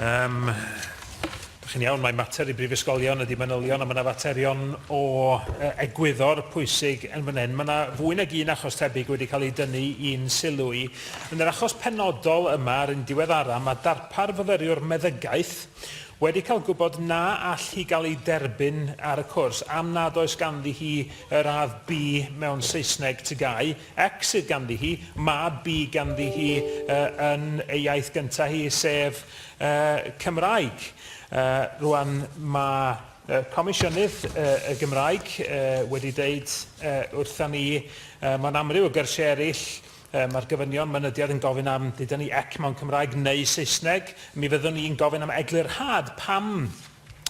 Yym, dych chi'n iawn, mae mater i brifysgolion ydy manylion, a mae yna faterion o e, egwyddor pwysig yn fan hyn. Mae yna fwy nag un achos tebyg wedi cael ei dynnu i'n sylw i. Yn yr achos penodol yma, ar un diweddara, mae darpar fyfyriwr meddygaeth wedi cael gwybod na all hi gael ei derbyn ar y cwrs am nad oes ganddi hi y radd B mewn Saesneg TGAU, X sydd ganddi hi, mab bu ganddi hi yn ei iaith gyntaf hi, sef Cymraeg. Rwan, mae Comisiynydd y Gymraeg wedi dweud wrthon ni, mewn amryw o gyrsiau eraill, mae'r gofynion mynediad yn gofyn am, dyda ni, ec mewn Cymraeg neu Saesneg. Mi fyddwn ni'n gofyn am eglurhad pam.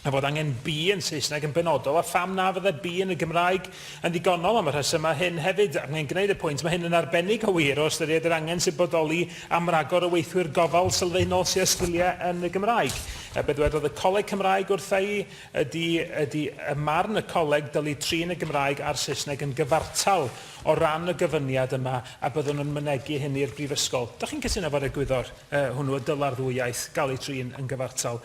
a fod angen be yn Saesneg yn benodol a pham na fyddai be yn y Gymraeg yn ddigonol am y rhesymau hyn hefyd, ac mae'n gwneud y pwynt, mae hyn yn arbennig o wir o ystyried yr angen sy'n bodoli am ragor o weithwyr gofal sylfaenol sydd â sgiliau yn y Gymraeg. A be ddwedodd y Coleg Cymraeg wrtha i ydy, ydy ym marn y Coleg dylid trin y Gymraeg a'r Saesneg yn gyfartal o ran y gofyniad yma a byddwn yn mynegi hyn i'r Brifysgol. Dach chi'n cytuno efo'r egwyddor yy hwnnw y dylai'r ddwy iaith gael eu trin yn gyfartal?